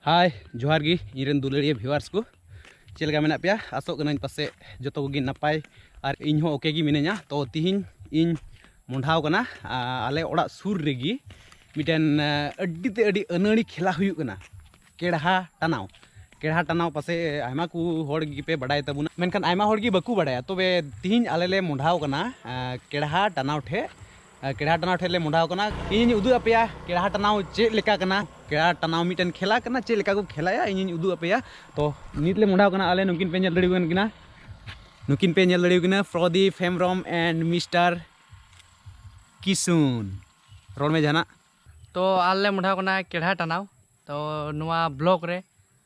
ᱦᱟᱭ ᱡᱚᱦᱟᱨ ᱜᱮ ᱤᱧ ᱨᱮᱱ ᱫᱩᱞᱟᱹᱲᱤᱭᱟᱹ ᱵᱷᱤᱣᱟᱨᱥ ᱠᱚ ᱪᱮᱫ ᱞᱮᱠᱟ ᱢᱮᱱᱟᱜ ᱯᱮᱭᱟ ᱟᱥᱚᱜ ᱠᱟᱹᱱᱟᱹᱧ ᱯᱟᱥᱮᱡ ᱡᱚᱛᱚ ᱠᱚᱜᱮ ᱱᱟᱯᱟᱭ ᱟᱨ ᱤᱧ ᱦᱚᱸ ᱳᱠᱮ ᱜᱮ ᱢᱤᱱᱟᱹᱧᱟ ᱛᱚ ᱛᱤᱦᱤᱧ ᱤᱧ ᱢᱚᱸᱰᱷᱟᱣ ᱠᱟᱱᱟ ᱟᱞᱮ ᱚᱲᱟᱜ ᱥᱩᱨ ᱨᱮᱜᱮ ᱢᱤᱫᱴᱮᱱ ᱟᱹᱰᱤ ᱛᱮ ᱟᱹᱰᱤ ᱟᱹᱱᱟᱹᱲᱤ ᱠᱷᱮᱞᱟ ᱦᱩᱭᱩᱜ ᱠᱟᱱᱟ ᱠᱮᱲᱦᱟ ᱴᱟᱱᱟᱣ ᱠᱮᱲᱦᱟ ᱴᱟᱱᱟᱣ ᱯᱟᱥᱮᱡ ᱟᱭᱢᱟ ᱠᱚ ᱦᱚᱲ ᱜᱮᱯᱮ ᱵᱟᱰᱟᱭ ᱛᱟᱵᱚᱱᱟ ᱢᱮᱱᱠᱷᱟᱱ ᱟᱭᱢᱟ ᱦᱚᱲ ᱜᱮ ᱵᱟᱠᱚ ᱵᱟᱰᱟᱭᱟ ᱛᱚᱵᱮ ᱛᱤᱦᱤᱧ ᱟᱞᱮ ᱞᱮ ᱢᱚᱸᱰᱷᱟᱣ ᱠᱟᱱᱟ ᱠᱮᱲᱦᱟ ᱴᱟᱱᱟᱣ ᱴᱷᱮᱡ ᱠᱮᱲᱟ ᱴᱟᱱᱟᱣ ᱴᱷᱮᱡ ᱞᱮ ᱢᱚᱰᱟᱣ ᱠᱟᱱᱟ ᱤᱧᱤᱧ ᱩᱫᱩᱜ ᱟᱯᱮᱭᱟ ᱠᱮᱲᱟ ᱴᱟᱱᱟᱣ ᱪᱮᱫ ᱞᱮᱠᱟ ᱠᱟᱱᱟ ᱠᱮᱲᱟ ᱴᱟᱱᱟᱣ ᱢᱤᱫᱴᱮᱱ ᱠᱷᱮᱞᱟ ᱠᱟᱱᱟ ᱪᱮᱫ ᱞᱮᱠᱟ ᱠᱚ ᱠᱷᱮᱞᱟᱭᱟ ᱤᱧᱤᱧ ᱩᱫᱩᱜ ᱟᱯᱮᱭᱟ ᱛᱚ ᱱᱤᱛ ᱞᱮ ᱢᱚᱰᱟᱣ ᱠᱟᱱᱟ ᱟᱞᱮ ᱱᱩᱠᱤᱱ ᱯᱮ ᱧᱮᱞ ᱫᱟᱲᱮ ᱠᱟᱱ ᱠᱤᱱᱟ ᱱᱩᱠᱤᱱ ᱯᱮ ᱧᱮᱞ ᱫᱟᱲᱮ ᱠᱤᱱᱟ ᱯᱨᱚᱫᱤᱯ ᱦᱮᱢᱵᱨᱚᱢ ᱮᱱᱰ ᱢᱤᱥᱴᱟᱨ ᱠᱤᱥᱩᱱ ᱨᱚᱲ ᱢᱮ ᱡᱟᱦᱟᱱᱟᱜ ᱛᱚ ᱟᱞᱮ ᱢᱚᱰᱟᱣ ᱠᱟᱱᱟ ᱠᱮᱲᱟ ᱴᱟᱱᱟᱣ ᱛᱚ ᱱᱚᱣᱟ ᱵᱞᱚᱠ ᱨᱮ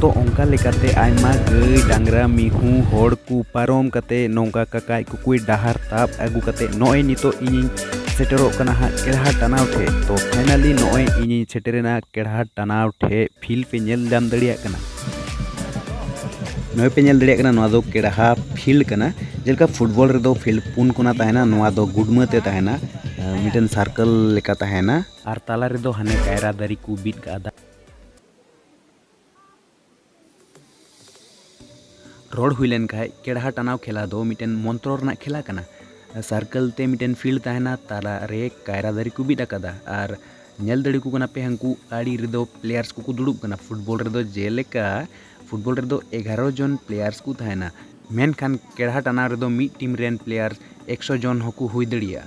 ᱛᱚ ᱚᱱᱠᱟ ᱞᱮᱠᱟᱛᱮ ᱟᱭᱢᱟ ᱜᱟᱹᱭ ᱰᱟᱝᱨᱟ ᱢᱤᱦᱩ ᱦᱚᱲ ᱠᱚ ᱯᱟᱨᱚᱢ ᱠᱟᱛᱮ ᱱᱚᱝᱠᱟ ᱠᱟᱠᱟᱭ ᱠᱩᱠᱩᱭ ᱰᱟᱦᱟᱨ ᱛᱟᱵ ᱟᱹᱜᱩ ᱠᱟᱛᱮ ᱱᱚᱜᱼᱚᱭ ᱱᱤᱛᱚᱜ ᱤᱧᱤᱧ ᱥᱮᱴᱮᱨᱚᱜ ᱠᱟᱱᱟ ᱦᱟᱸᱜ ᱠᱮᱲᱦᱟ ᱴᱟᱱᱟᱣ ᱴᱷᱮᱡ ᱛᱚ ᱯᱷᱟᱭᱱᱟᱞᱤ ᱱᱚᱜᱼᱚᱭ ᱤᱧᱤᱧ ᱥᱮᱴᱮᱨᱮᱱᱟ ᱠᱮᱲᱦᱟ ᱴᱟᱱᱟᱣ ᱴᱷᱮᱡ ᱯᱷᱤᱞ ᱯᱮ ᱧᱮᱞ ᱧᱟᱢ ᱫᱟᱲᱮᱭᱟᱜ ᱠᱟᱱᱟ ᱱᱚᱜᱼᱚᱭ ᱯᱮ ᱧᱮᱞ ᱫᱟᱲᱮᱭᱟᱜ ᱠᱟᱱᱟ ᱱᱚᱣᱟ ᱫᱚ ᱠᱮᱲᱟᱦᱟ ᱯᱷᱤᱞᱰ ᱠᱟᱱᱟ ᱡᱮᱞᱮᱠᱟ ᱯᱷᱩᱴᱵᱚᱞ ᱨᱮᱫᱚ ᱯᱷᱤᱞᱰ ᱯᱩᱱ ᱠᱚᱱᱟ ᱛᱟᱦᱮᱱᱟ ᱱᱚᱣᱟ ᱫᱚ ᱜᱩᱰᱢᱟᱹ ᱛᱮ ᱛᱟᱦᱮᱱᱟ ᱢᱤᱫᱴᱮᱱ ᱥᱟᱨᱠᱮᱞ ᱞᱮᱠᱟ ᱛᱟᱦᱮᱱᱟ ᱟᱨ ᱛᱟᱞᱟ ᱨᱮᱫᱚ ᱦᱟᱱᱮ ᱠᱟᱭᱨᱟ ᱫᱟᱨᱮ ᱠᱚ ᱵᱤᱫ ᱠᱟᱜᱼᱟ ᱨᱚᱲ ᱦᱩᱭ ᱞᱮᱱ ᱠᱷᱟᱡ ᱠᱮᱲᱦᱟ ᱴᱟᱱᱟᱣ ᱠᱷᱮᱞᱟ ᱫᱚ ᱢᱤᱫᱴᱮᱱ ᱢᱚᱱᱛᱨᱚ ᱨᱮᱱᱟᱜ ᱠᱷᱮᱞᱟ ᱠᱟᱱᱟ ᱥᱟᱨᱠᱮᱞ ᱛᱮ ᱢᱤᱫᱴᱮᱱ ᱯᱷᱤᱞᱰ ᱛᱟᱦᱮᱱᱟ ᱛᱟᱞᱟ ᱨᱮ ᱠᱟᱭᱨᱟ ᱫᱟᱨᱮ ᱠᱚ ᱵᱤᱫ ᱟᱠᱟᱫᱟ ᱟᱨ ᱧᱮᱞ ᱫᱟᱲᱮ ᱠᱚ ᱠᱟᱱᱟ ᱯᱮ ᱦᱟᱹᱱᱠᱩ ᱟᱲᱮ ᱨᱮᱫᱚ ᱯᱞᱮᱭᱟᱨᱥ ᱠᱚᱠᱚ ᱫᱩᱲᱩᱵ ᱠᱟᱱᱟ ᱯᱷᱩᱴᱵᱚᱞ ᱨᱮᱫᱚ ᱡᱮᱞᱮᱠᱟ ᱯᱷᱩᱴᱵᱚᱞ ᱨᱮᱫᱚ ᱮᱜᱟᱨᱚ ᱡᱚᱱ ᱯᱞᱮᱭᱟᱨᱥ ᱠᱚ ᱛᱟᱦᱮᱱᱟ ᱢᱮᱱᱠᱷᱟᱱ ᱠᱮᱲᱦᱟ ᱴᱟᱱᱟᱣ ᱨᱮᱫᱚ ᱢᱤᱫ ᱴᱤᱢ ᱨᱮᱱ ᱯᱞᱮᱭᱟᱨ ᱮᱠᱥᱚ ᱡᱚᱱ ᱦᱚᱸᱠᱚ ᱦᱩᱭ ᱫᱟᱲᱮᱭᱟᱜᱼᱟ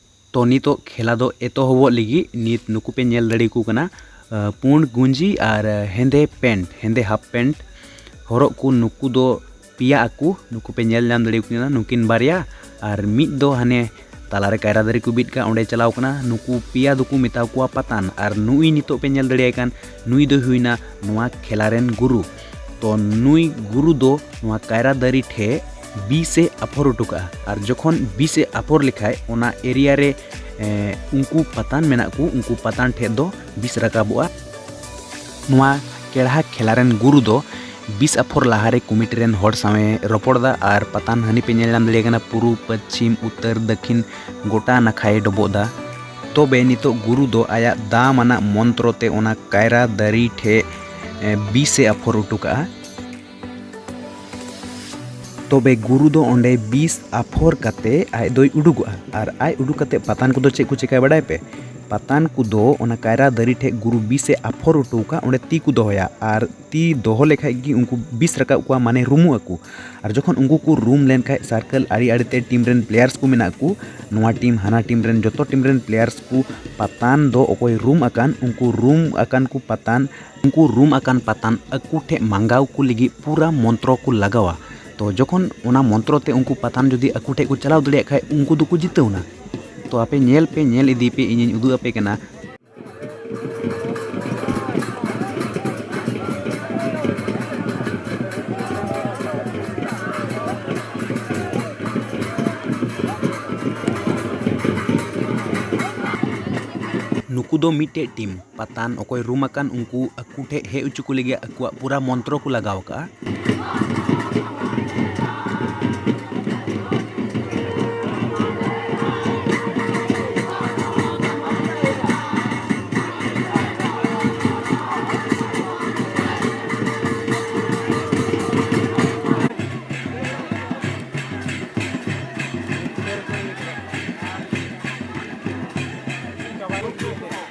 ᱛᱚ ᱱᱤᱛᱚᱜ ᱠᱷᱮᱞᱟ ᱫᱚ ᱮᱛᱚᱦᱚᱵᱚᱜ ᱞᱟᱹᱜᱤᱫ ᱱᱤᱛ ᱱᱩᱠᱩ ᱯᱮ ᱧᱮᱞ ᱫᱟᱲᱮ ᱟᱠᱚ ᱠᱟᱱᱟ ᱯᱩᱸᱰ ᱜᱩᱸᱡᱤ ᱟᱨ ᱦᱮᱸᱫᱮ ᱯᱮᱱᱴ ᱦᱮᱸᱫᱮ ᱦᱟᱯ ᱯᱮᱱᱴ ᱦᱚᱨᱚᱜ ᱠᱚ ᱱᱩᱠᱩ ᱫᱚ ᱯᱮᱭᱟ ᱟᱠᱚ ᱱᱩᱠᱩ ᱯᱮ ᱧᱮᱞ ᱧᱟᱢ ᱫᱟᱲᱮ ᱟᱠᱚ ᱠᱟᱱᱟ ᱱᱩᱠᱤᱱ ᱵᱟᱨᱭᱟ ᱟᱨ ᱢᱤᱫ ᱫᱚ ᱦᱟᱱᱮ ᱛᱟᱞᱟᱨᱮ ᱠᱟᱭᱨᱟ ᱫᱟᱨᱮ ᱠᱚ ᱵᱤᱫ ᱠᱟᱜ ᱚᱸᱰᱮ ᱪᱟᱞᱟᱣ ᱠᱟᱱᱟ ᱱᱩᱠᱩ ᱯᱮᱭᱟ ᱫᱚᱠᱚ ᱢᱮᱛᱟ ᱠᱚᱣᱟ ᱯᱟᱛᱟᱱ ᱟᱨ ᱱᱩᱭ ᱱᱤᱛᱚᱜ ᱯᱮ ᱧᱮᱞ ᱫᱟᱲᱮᱭᱟᱭ ᱠᱟᱱ ᱱᱩᱭ ᱫᱚᱭ ᱦᱩᱭᱱᱟ ᱱᱚᱣᱟ ᱠᱷᱮᱞᱟ ᱨᱮᱱ ᱜᱩᱨᱩ ᱛᱚ ᱱᱩᱭ ᱜᱩᱨᱩ ᱫᱚ ᱱᱚᱣᱟ ᱠᱟᱭᱨᱟ ᱫᱟᱨᱮ ᱴᱷᱮ ᱵᱤᱥ ᱮ ᱟᱯᱷᱚᱨ ᱦᱚᱴᱚ ᱠᱟᱜᱼᱟ ᱟᱨ ᱡᱚᱠᱷᱚᱱ ᱵᱤᱥ ᱮ ᱟᱯᱷᱚᱨ ᱞᱮᱠᱷᱟᱡ ᱚᱱᱟ ᱮᱨᱤᱭᱟ ᱨᱮ ᱩᱱᱠᱩ ᱯᱟᱛᱟᱱ ᱢᱮᱱᱟᱜ ᱠᱚ ᱩᱱᱠᱩ ᱯᱟᱛᱟᱱ ᱴᱷᱮᱡ ᱫᱚ ᱵᱤᱥ ᱨᱟᱠᱟᱵᱚᱜᱼᱟ ᱱᱚᱣᱟ ᱠᱮᱲᱦᱟ ᱠᱷᱮᱞᱟ ᱨᱮᱱ ᱜᱩᱨᱩ ᱫᱚ ᱵᱤᱥ ᱟᱯᱷᱚᱨ ᱞᱟᱦᱟᱨᱮ ᱠᱚᱢᱤᱴᱤ ᱨᱮᱱ ᱦᱚᱲ ᱥᱟᱶᱮ ᱨᱚᱯᱚᱲᱫᱟ ᱟᱨ ᱯᱟᱛᱟᱱ ᱦᱟᱹᱱᱤ ᱯᱮ ᱧᱮᱞ ᱧᱟᱢ ᱫᱟᱲᱮᱭᱟᱜ ᱠᱟᱱᱟ ᱯᱩᱨᱩᱵ ᱯᱚᱪᱷᱤᱢ ᱩᱛᱛᱚᱨ ᱫᱟᱹᱠᱷᱤᱱ ᱜᱚᱴᱟ ᱱᱟᱠᱷᱟᱭ ᱰᱚᱵᱚᱜᱫᱟ ᱛᱚᱵᱮ ᱱᱤᱛᱚᱜ ᱜᱩᱨᱩ ᱫᱚ ᱟᱭᱟᱜ ᱫᱟᱢᱟᱱᱟᱜ ᱢᱚᱱᱛᱨᱚ ᱛᱮ ᱚᱱᱟ ᱠᱟᱭᱨᱟ ᱫᱟᱨᱮ ᱴᱷᱮᱡ ᱵᱤᱥ ᱮ ᱟᱯᱷᱚᱨ ᱦᱚᱴᱚ ᱠᱟᱜᱼᱟ ᱛᱚᱵᱮ ᱜᱩᱨᱩ ᱫᱚ ᱚᱸᱰᱮ ᱵᱤᱥ ᱟᱯᱷᱚᱨ ᱠᱟᱛᱮ ᱟᱡ ᱫᱚᱭ ᱩᱰᱩᱠᱚᱜᱼᱟ ᱟᱨ ᱟᱡ ᱩᱰᱩᱠ ᱠᱟᱛᱮ ᱯᱟᱛᱟᱱ ᱠᱚᱫᱚ ᱪᱮᱫ ᱠᱚ ᱪᱮᱠᱟᱭ ᱵᱟᱰᱟᱭ ᱯᱮ ᱯᱟᱛᱟᱱ ᱠᱚᱫᱚ ᱚᱱᱟ ᱠᱟᱭᱨᱟ ᱫᱟᱨᱮ ᱴᱷᱮᱡ ᱜᱩᱨᱩ ᱵᱤᱥ ᱮ ᱟᱯᱷᱚᱨ ᱦᱚᱴᱚ ᱠᱟᱜ ᱚᱸᱰᱮ ᱛᱤ ᱠᱚ ᱫᱚᱦᱚᱭᱟ ᱟᱨ ᱛᱤ ᱫᱚᱦᱚ ᱞᱮᱠᱷᱟᱡ ᱜᱮ ᱩᱱᱠᱩ ᱵᱤᱥ ᱨᱟᱠᱟᱵ ᱠᱚᱣᱟ ᱢᱟᱱᱮ ᱨᱩᱢᱩᱜ ᱟᱠᱚ ᱟᱨ ᱡᱚᱠᱷᱚᱱ ᱩᱱᱠᱩ ᱠᱚ ᱨᱩᱢ ᱞᱮᱱᱠᱷᱟᱡ ᱥᱟᱨᱠᱮᱞ ᱟᱲᱮ ᱟᱲᱮ ᱛᱮ ᱴᱤᱢ ᱨᱮᱱ ᱯᱞᱮᱭᱟᱨᱥ ᱠᱚ ᱢᱮᱱᱟᱜ ᱠᱚ ᱱᱚᱣᱟ ᱴᱤᱢ ᱦᱟᱱᱟ ᱴᱤᱢ ᱨᱮᱱ ᱡᱚᱛᱚ ᱴᱤᱢ ᱨᱮᱱ ᱯᱞᱮᱭᱟᱨᱥ ᱠᱚ ᱯᱟᱛᱟᱱ ᱫᱚ ᱚᱠᱚᱭ ᱨᱩᱢ ᱟᱠᱟᱱ ᱩᱱᱠᱩ ᱨᱩᱢ ᱟᱠᱟᱱ ᱠᱚ ᱯᱟᱛᱟᱱ ᱩᱱᱠᱩ ᱨᱩᱢ ᱟᱠᱟᱱ ᱯᱟᱛᱟᱱ ᱟᱠᱚ ᱴᱷᱮᱡ ᱢᱟᱸᱜᱟᱣ ᱠᱚ ᱞᱟᱹᱜᱤᱫ ᱯᱩᱨᱟᱹ ᱢᱚᱱᱛᱨᱚ ᱠᱚ ᱞᱟᱜᱟᱣᱟ ᱛᱚ ᱡᱚᱠᱷᱚᱱ ᱚᱱᱟ ᱢᱚᱱᱛᱨᱚ ᱛᱮ ᱩᱱᱠᱩ ᱯᱟᱛᱟᱱ ᱡᱩᱫᱤ ᱟᱠᱚ ᱴᱷᱮᱡ ᱠᱚ ᱪᱟᱞᱟᱣ ᱫᱟᱲᱮᱭᱟᱜ ᱠᱷᱟᱡ ᱩᱱᱠᱩ ᱫᱚᱠᱚ ᱡᱤᱛᱟᱹᱣ ᱮᱱᱟ ᱛᱚ ᱟᱯᱮ ᱧᱮᱞ ᱯᱮ ᱧᱮᱞ ᱤᱫᱤᱭ ᱯᱮ ᱤᱧᱤᱧ ᱩᱫᱩᱜ ᱟᱯᱮ ᱠᱟᱱᱟ ᱱᱩᱠᱩ ᱫᱚ ᱢᱤᱫᱴᱮᱡ ᱴᱤᱢ ᱯᱟᱛᱟᱱ ᱚᱠᱚᱭ ᱨᱩᱢ ᱟᱠᱟᱱ ᱩᱱᱠᱩ ᱟᱠᱚ ᱴᱷᱮᱡ ᱦᱮᱡ ᱚᱪᱚ ᱠᱚ ᱞᱟᱹᱜᱤᱫ ᱩᱱᱠᱩᱣᱟᱜ ᱯᱩᱨᱟᱹ ᱢᱚᱱᱛᱨᱚ ᱠᱚ ᱞᱟᱜᱟᱣ ᱟᱠᱟᱫᱼᱟ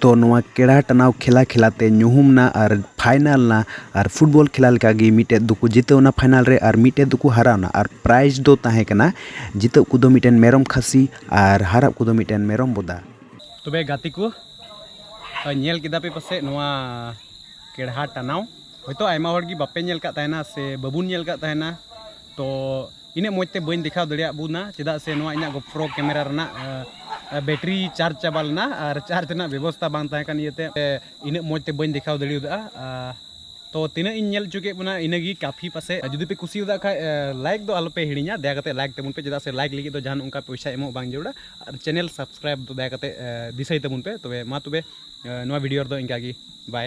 ᱛᱚ ᱱᱚᱣᱟ ᱠᱮᱲᱟ ᱴᱟᱱᱟᱣ ᱠᱷᱮᱞᱟ ᱠᱷᱮᱞᱟ ᱛᱮ ᱧᱩᱦᱩᱢ ᱮᱱᱟ ᱟᱨ ᱯᱷᱟᱭᱱᱮᱞ ᱮᱱᱟ ᱟᱨ ᱯᱷᱩᱴᱵᱚᱞ ᱠᱷᱮᱞᱟ ᱞᱮᱠᱟ ᱜᱮ ᱢᱤᱫᱴᱮᱱ ᱫᱚᱠᱚ ᱡᱤᱛᱟᱹᱣᱱᱟ ᱯᱷᱟᱭᱱᱮᱞ ᱨᱮ ᱟᱨ ᱢᱤᱫᱴᱮᱱ ᱫᱚᱠᱚ ᱦᱟᱨᱟᱣᱱᱟ ᱟᱨ ᱯᱨᱟᱭᱤᱡᱽ ᱫᱚ ᱛᱟᱦᱮᱸ ᱠᱟᱱᱟ ᱡᱤᱛᱟᱹᱜ ᱠᱚᱫᱚ ᱢᱤᱫᱴᱮᱱ ᱢᱮᱨᱚᱢ ᱠᱷᱟᱹᱥᱤ ᱟᱨ ᱦᱟᱨᱟᱜ ᱠᱚᱫᱚ ᱢᱤᱫᱴᱮᱱ ᱢᱮᱨᱚᱢ ᱵᱚᱫᱟ ᱛᱚᱵᱮ ᱜᱟᱛᱮ ᱠᱚ ᱧᱮᱞ ᱠᱮᱫᱟ ᱯᱮ ᱯᱟᱥᱮᱡ ᱱᱚᱣᱟ ᱠᱮᱲᱦᱟ ᱴᱟᱱᱟᱣ ᱦᱚᱭᱛᱳ ᱟᱭᱢᱟ ᱦᱚᱲ ᱜᱮ ᱵᱟᱯᱮ ᱧᱮᱞ ᱠᱟᱫ ᱛᱟᱦᱮᱱᱟ ᱥᱮ ᱵᱟᱵᱚᱱ ᱧᱮᱞ ᱠᱟᱫ ᱛᱟᱦᱮᱱᱟ ᱛᱚ ᱤᱱᱟᱹᱜ ᱢᱚᱡᱽ ᱛᱮ ᱵᱟᱹᱧ ᱫᱮᱠᱷᱟᱣ ᱫᱟᱲᱮᱭᱟᱜ ᱵᱚᱱᱟ ᱪᱮᱫᱟᱜ ᱥᱮ ᱱᱚᱣᱟ ᱤᱧᱟᱹᱜ ᱜᱚᱯᱨᱚ ᱠᱮᱢᱮᱨᱟ ᱨᱮᱱᱟᱜ ᱵᱮᱴᱨᱤ ᱪᱟᱨᱡᱽ ᱪᱟᱵᱟ ᱞᱮᱱᱟ ᱟᱨ ᱪᱟᱨᱡᱽ ᱨᱮᱱᱟᱜ ᱵᱮᱵᱚᱥᱛᱟ ᱵᱟᱝ ᱛᱟᱦᱮᱸ ᱠᱟᱱ ᱤᱭᱟᱹᱛᱮ ᱤᱱᱟᱹᱜ ᱢᱚᱡᱽ ᱛᱮ ᱵᱟᱹᱧ ᱫᱮᱠᱷᱟᱣ ᱫᱟᱲᱮᱭᱟᱫᱟ ᱛᱚ ᱛᱤᱱᱟᱹᱜ ᱤᱧ ᱧᱮᱞ ᱦᱚᱪᱚ ᱠᱮᱫ ᱵᱚᱱᱟ ᱤᱱᱟᱹ ᱜᱮ ᱠᱟᱯᱷᱤ ᱯᱟᱥᱮ ᱡᱩᱫᱤ ᱯᱮ ᱠᱩᱥᱤᱭᱟᱫᱟ ᱠᱷᱟᱡ ᱞᱟᱭᱤᱠ ᱫᱚ ᱟᱞᱚ ᱯᱮ ᱦᱤᱲᱤᱧᱟ ᱫᱟᱭᱟ ᱠᱟᱛᱮ ᱞᱟᱭᱤᱠ ᱛᱟᱵᱚᱱ ᱯᱮ ᱪᱮᱫᱟᱜ ᱥᱮ ᱞᱟᱭᱤᱠ ᱞᱟᱹᱜᱤᱫ ᱫᱚ ᱡᱟᱦᱟᱱ ᱚᱱᱠᱟ ᱯᱚᱭᱥᱟ ᱮᱢᱚᱜ ᱵᱟᱝ ᱡᱟᱹᱨᱩᱲᱟ ᱟᱨ ᱪᱮᱱᱮᱞ ᱥᱟᱵᱥᱠᱨᱟᱭᱤᱵ ᱫᱚ ᱫᱟᱭᱟ ᱠᱟᱛᱮ ᱫᱤᱥᱟᱹᱭ ᱛᱟᱵᱚᱱ ᱯᱮ ᱛᱚᱵᱮ ᱢᱟ ᱛᱚᱵᱮ ᱱᱚᱣᱟ ᱵᱷᱤᱰᱤᱭᱳ ᱨᱮᱫᱚ ᱤᱱᱠᱟ ᱜᱮ ᱵᱟᱭ